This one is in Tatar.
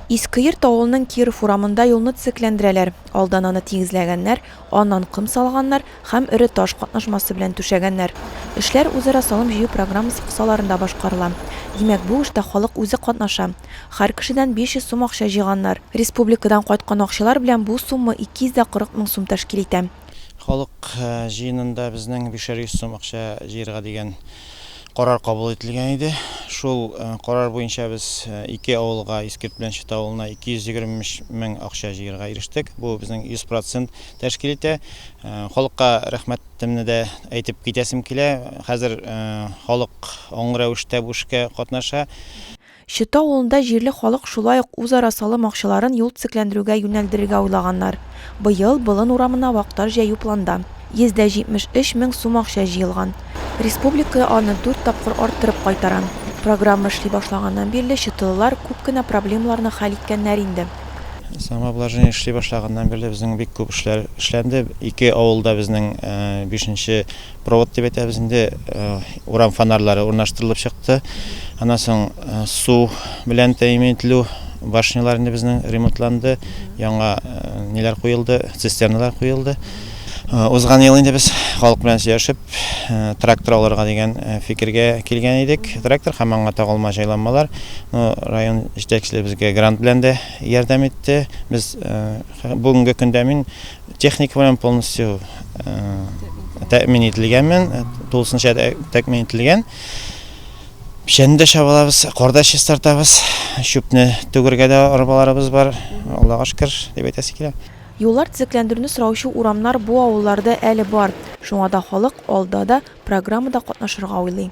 Искеерт авылының Киров урамында юлны төзекләндерәләр. Алдан аны тигезләгәннәр, аннан ком салганнар һәм эре таш катнашмасы белән түшәгәннәр. Эшләр үзара салым җыю программасы кысаларында башкарыла. Димәк, бу эштә халык үзе катнаша. Һәр кешедән 500 сум акча җыйганнар. Республикадан кайткан акчалар белән бу сумма 240 мең сум тәшкил итә. Халык җыенында безнең бишәр йөз сум акча җыярга дигән карар кабул ителгән иде. Шул карар буенча без ике авылга, Искерт белән Чыта авылына 223 мең акча җыярга ирештек. Бу безнең 100 процент тәшкил итә. Халыкка рәхмәтемне дә әйтеп китәсем килә. Хәзер халык аңлы рәвештә бу эшкә катнаша. Чыта авылында җирле халык шулай ук үзара салым акчаларын юл төзекләндерүгә юнәлдерергә уйлаганнар. Быел Болын урамына вак-тар җәю планда. 173 мең сум акча җыелган. Республика аны дүрт тапкыр арттырып кайтара. Программа эшли башлаганнан бирле чытылылар күп кенә проблемаларны хәл иткәннәр инде. Самообложение эшли башлаганнан бирле безнең бик күп эшләр эшләнде. Ике авылда безнең бишенче Провод дип әйтәбез инде, урам фонарьлары урнаштырылып чыкты. Аннан соң су белән тәэмин ителү башнялар инде безнең ремонтланды, яңа ниләр куелды, цистерналар куелды. Узган ел инде без халык белән сөйләшеп, трактор алырга дигән фикергә килгән идек. Трактор һәм аңа тагылма җайланмалар. Район җитәкчелеге безгә грант белән дә ярдәм итте. Без бүгенге көндә мин Техника белән полностью тәэмин ителгәнмен, тулысынча тәэмин ителгән. Печәнне дә чабалабыз, корда чистартабыз, чүпне түгергә дә арбаларыбыз бар, Аллага шөкер, дип әйтәсе килә. Юллар төзекләндерүне сораучы урамнар бу авылларда әле бар, шуңа да халык алда да программада катнашырга уйлый.